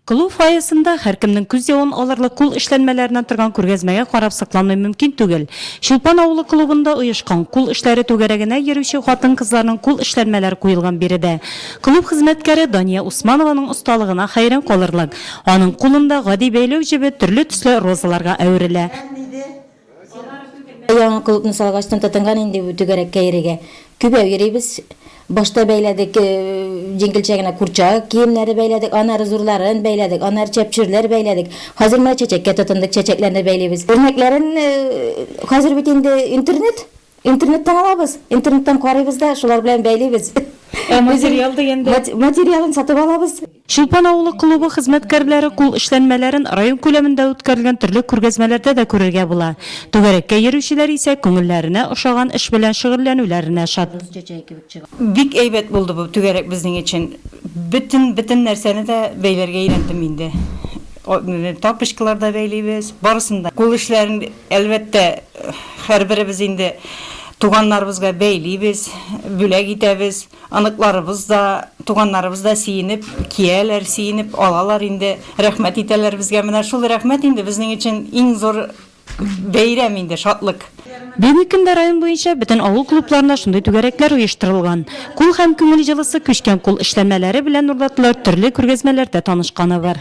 Клуб фойесында һәркемнең күз явын алырлык кул эшләнмәләреннән торган күргәзмәгә карап сокланмый мөмкин түгел. Чулпан авылы клубында оешкан Кул эшләре түгәрәгенә йөрүче хатын-кызларның кул эшләнмәләр куелган биредә клуб хезмәткәре Дания Усманованың осталыгына хәйран калырлык, аның кулында гади бәйләү җебе төрле төсле розаларга әверелә. Яңа клубны салгачтын тотынган инде бу түгәрәккә йөрергә. Күбәү йөрибез. Башта бәйләдек җиңелчә генә курчак киемнәре бәйләдек, аннары зурларын бәйләдек, аннары чәпчүрләр бәйләдек. Хәзер менә чәчәккә тотындык, чәчәкләрне бәйлибез. Үрнәкләрен хәзер бит инде интернет, Интернеттан алабыз, интернеттан карыйбыз да, шулар белән бәйлибез. Ә материал дигәндә? Материалын сатып алабыз. Чулпан авылы клубы хезмәткәрләре кул эшләнмәләрен район күләмендә үткәрелгән төрле күргәзмәләрдә дә күрергә була. Түгәрәккә йөрүчеләр исә күңелләренә ошаган эш белән шөгыльләнүләренә шат. Бик әйбәт булды бу түгәрәк безнең өчен. Бөтен, бөтен нәрсәне дә бәйләргә өйрәндем инде. Тапочкалар да бәйлибез, барысын да. Кул эшләрен. Әлбәттә, һәрберебез инде туганнарыбызга бәйлибез, бүләк итәбез. Оныкларыбыз да, туганнарыбыз да сиенеп кияләр, сиенеп алалар инде, рәхмәт итәләр безгә. Менә шул рәхмәт инде безнең өчен иң зур бәйрәм инде, шатлык. Безнең көндә район буенча бөтен авыл клубларында шундый түгәрәкләр оештырылган. Кул һәм күңел җылысы, күчкән кул эшләнмәләре белән урлатылыр төрле күргәзмәләрдә танышканы бар.